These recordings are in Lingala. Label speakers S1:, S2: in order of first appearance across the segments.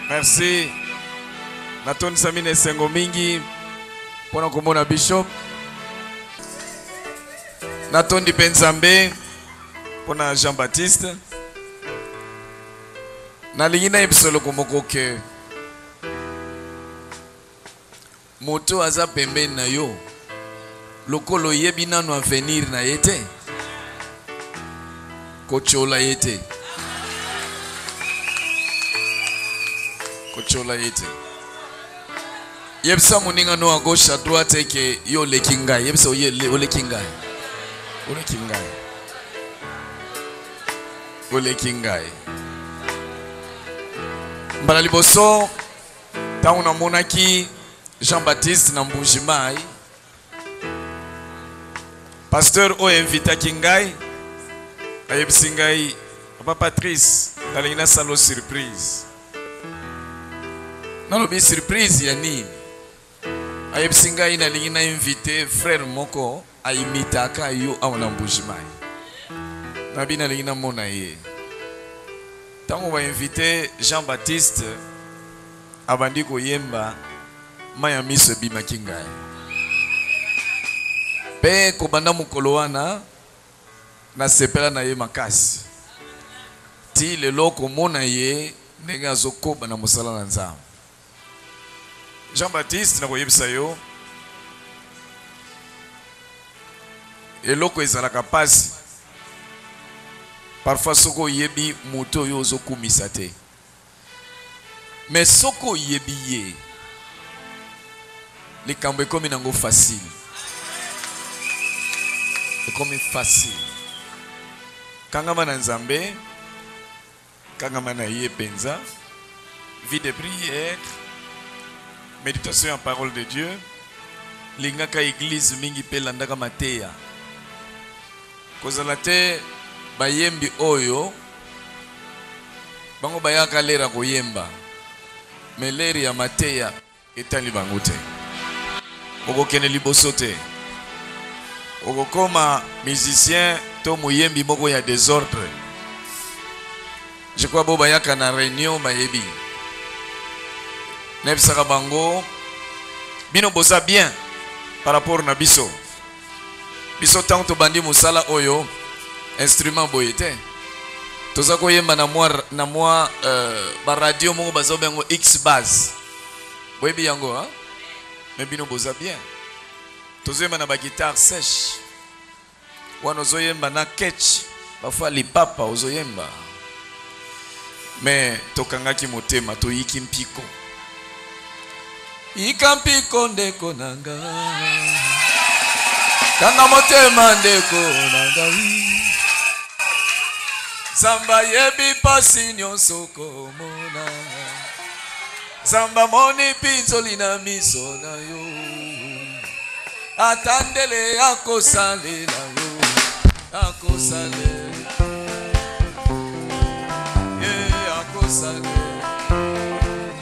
S1: merci natondisami na esengo mingi mpo na komona bishop natondi mpe nzambe mpo na jean baptiste nalingi nayebisa eloko moko ke Moto oyo aza pembeni na yo lokola oyebi nanu avenir na ye te kotiola ye te kotiola ye te yebisa moninga no à gauche à droite eke yo oleki ngai yebisa oleki ngai oleki ngai oleki ngai mbala liboso ntango namonaki jean baptiste na mbuji mai pasteur oyo invitaki ngai ayebisi ngai papa patrice nalingi nasalo surprise nalobi surprise ya nini ayebisi ngai nalingi na invite frère moko A imitaka yo awa na Mbuji Mayi. Na bi na lingi na mona ye. Tango ba invite Jean Baptiste a bandi ko yemba mayi ya miso e bimaki ngayi. Pe ko banda mokolo wana na sepela na ye makasi. Ti lelo ko mona ye ndenge azo koba na mosala na Nzambe. Jean Baptiste nakoyebisa yo eloko ezalaka pasi parfois soki oyebi moto oyo ozokumisa te me soki oyebi ye likambo ekomi nango facile ekomi facile kangama na nzambe Kangama na ye penza. Vie de prière, meditation ya parole de Dieu, lingaka eglise mingi pe landaka mateya. Kozala te bayembi oyo bango bayaka l'heure ya koyemba mais l'heure ya mateya. Etali bango te. Okokende liboso te. Okokoma musicien to moyembi moko ya desordre. Je crois bo bayaka na reunion bayebi. Nebisaka bango bino boza bien par rapport na biso. biso tango tobandi mosala oyo instrument boye te toza koyemba na mwa na mwa euh, baradio moko bazoba yango x base boyebi yango hein? me bino boza bien tozoyemba na baguitare sèche wana ozoyemba na ketch bafua lipapa ozoyemba me tokangaki motema toyiki mpiko Yika mpiko ndeko na nga Kanga motema ndeko na ngai Zamba yebi pasi nyonso komona Zamba moni pinzoli na miso na yo Ata ndele akosalela yo Akosalela Yeah, akosalela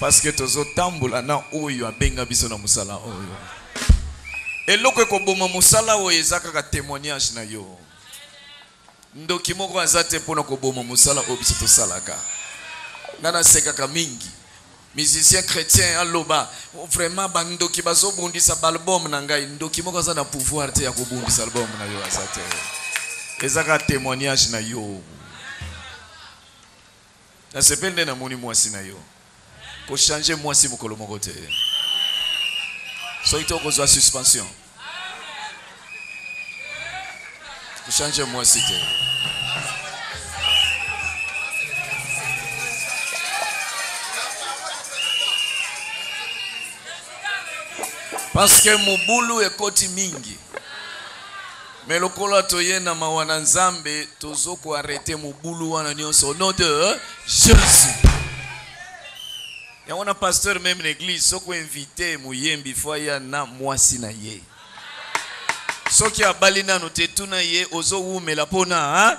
S1: Parce que tozo tambola na oyo abenga biso na musala oyo. Eloko ekoboma musala oyo eza kaka temoignage na yo. Ndoki moko aza te pona koboma musala oyo biso tosalaka. Nga nasekaka mingi. Musicien chrétien aloba vraiment ba ndoki bazo bundisa ba album na ngai. Ndoki moko aza na pouvoir te ya kobundisa album na yo aza te. Eza kaka temoignage na yo. Na sepeli nde na moni mwasi na yo. Ko changer mwasi mokolo moko te. Soki te oko zwa suspension. Ko changer mwasi te. Parce que mobulu ekoti mingi. Mais lokola toye na mawa na nzambe tozo ko arrete mobulu wana nionso au nom de Jesus. yango na pasteur meme na église soki oinvite moyembi fo aya na mwasi na ye soki abali nano te tuna ye ozowumela mpona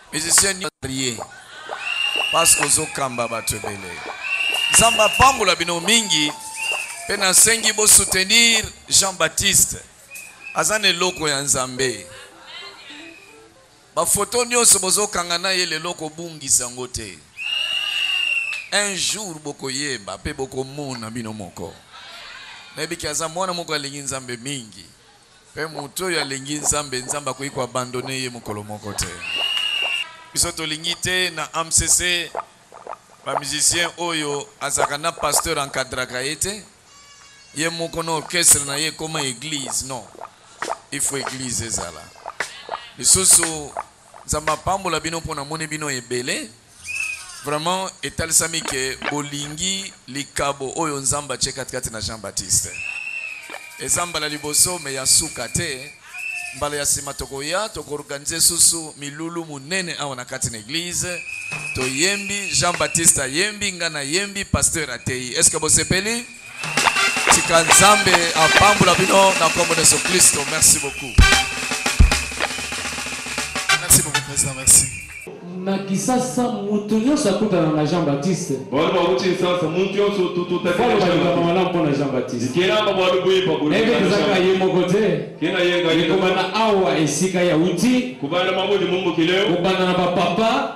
S1: Musicien nini marie parce que ozo kamba batu ebele nzambe apambola bino mingi pe nasengi bo soutenir Jean Baptiste aza na eloko ya nzambe bafoto nyonso bozokanga na ye lelo kobungisa yango te un jour bokoyeba mpe bokomona bino moko nayebiki aza mwana moko alingi nzambe mingi Pe moto oyo alingi Nzambe, Nzambe akoki ko abandonner ye mokolo moko te. Biso tolingi te na AMCC ba musiciens oyo azalaka na pasteur encadraka ye te, ye moko na orchestre na ye ekoma eglise. Non, il faut eglise ezala. Lisusu, Nzambe apambola bino po namoni bino ebele. Vraiment etalisami que bolingi likabo oyo Nzambe atie kati kati na Jean Baptiste. Eza mbala liboso mais ya suka te. Mbala ya sima tokoya toko organiser susu milulu munene awa na kati na eglise. Toyembi Jean Baptiste ayembi ngana yembi pasteur ateyi. Est-ce que bosepeli? tika nzambe apambola bino na nkombo na yesu kristo merci beaucoup merci beaucoup président merci na
S2: kisasa moto nyonso akutana na jean baptiste bali bakuti kisasa
S3: moto nyonso tututakaaaa malamu mpo na jean
S2: baptiste kenaka bali
S3: boyebakuyebezaka ye moko
S2: te kena yekobana
S3: awa
S2: esika ya uti kobanda mabodi
S3: mombokileo kobanda na bapapa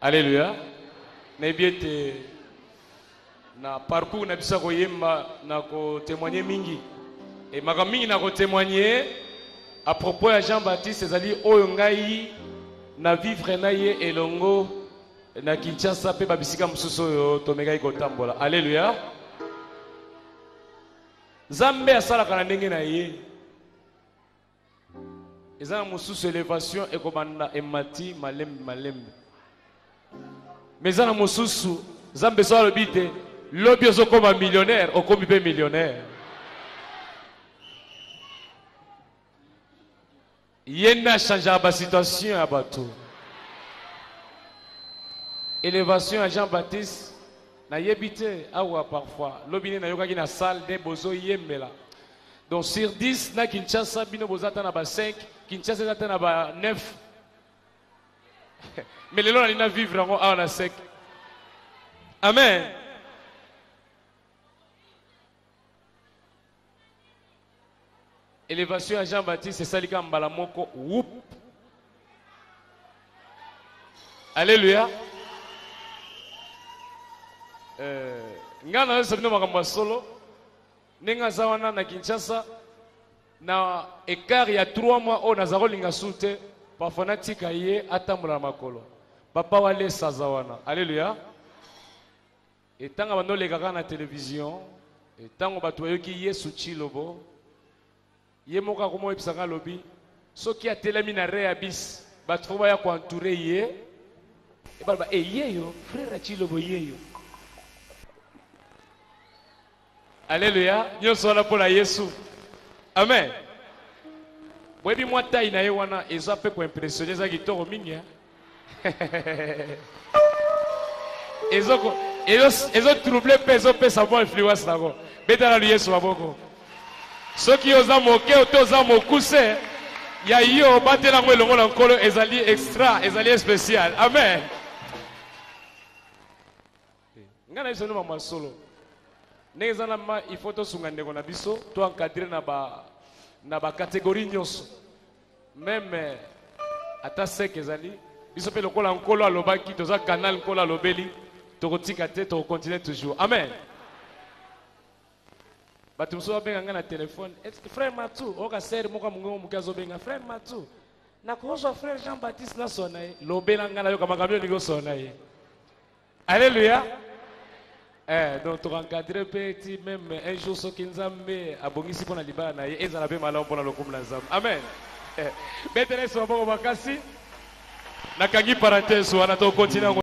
S4: Alléluia. Mais bien na parcours na biso koyemba na témoigner mingi et makambo mingi na témoigner à propos ya jean baptiste ezali oyo ngai na vivre na ye elongo na kinshasa mpe babisika mosusu oyo tomekaki kotambola alleluya nzambe asalaka na ndenge na ye eza na mosusu elevation ekobanda emati malembe malembe me eza na mosusu zambe so alobi te lobi ozokoma millionnaire okomi mpe millionnaire ye nde achangeaka basituation ya bato elevation ya jean baptiste nayebi te awa parfois lobi nde nayokaki na salle nde bozoyembela Donc sur 10 na Kinshasa bino boza ata na ba 5, Kinshasa eza ata na ba 9. Mais lelo na lina vivre yango awa na sec. Amen. Élévation ya Jean-Baptiste esali kaka mbala moko whoop. Alléluia. Euh, ngai nayosa bino makambo ya solo ndenge aza wana na kinshasa na ekart ya 3 mois oyo naza kolinga su te parfois natika ye atambola na makolo papa walesa aza wana aleluya etanga bandolekaka na televizio ntango bato bayoki yesu cilobo Ye moko akoma oyebisa nga alobi soki atelemi na reabis bato fo baya koentoure ye ebaloba eyeyo eh, frere acilobo yeyo aleluya nyonso wana mpo na yesu amen boyebi mwa tai na ye wana eza mpe koimpressione eza kitoko mingi eh? ezoko ezo trouble mpe ezopesa mwa influence nango betala lu yesu maboko soki oza moke ote oza mokuse ya yo batela yango elongo na nkolo ezali extra ezali especial amen Nga na biso nde maman solo ndenge eza na ma il faut tosunga ndeko na biso to encadrer na ba na ba catégorie nyonso meme ata seke ezali biso mpe lokola nkolo alobaki toza canal nkolo alobeli tokotika te tokocontinue toujours amen bato mosusu babenga ngai na telefone frère matu oyoka sere moko ya mongongo moke azobenga frère matu nakozwa frère jean baptiste nasona ye lobela ngai nayoka makambo yo olingi osona ye Alléluia. Eh, donc tu encadré petit même un jour ce soki nzambe abongisi mpo na libala na ye ezala mpe malamu mpo na lokumu na nzambe amen eh, betela yesu maboko makasi nakangi parenthèse wana tokontina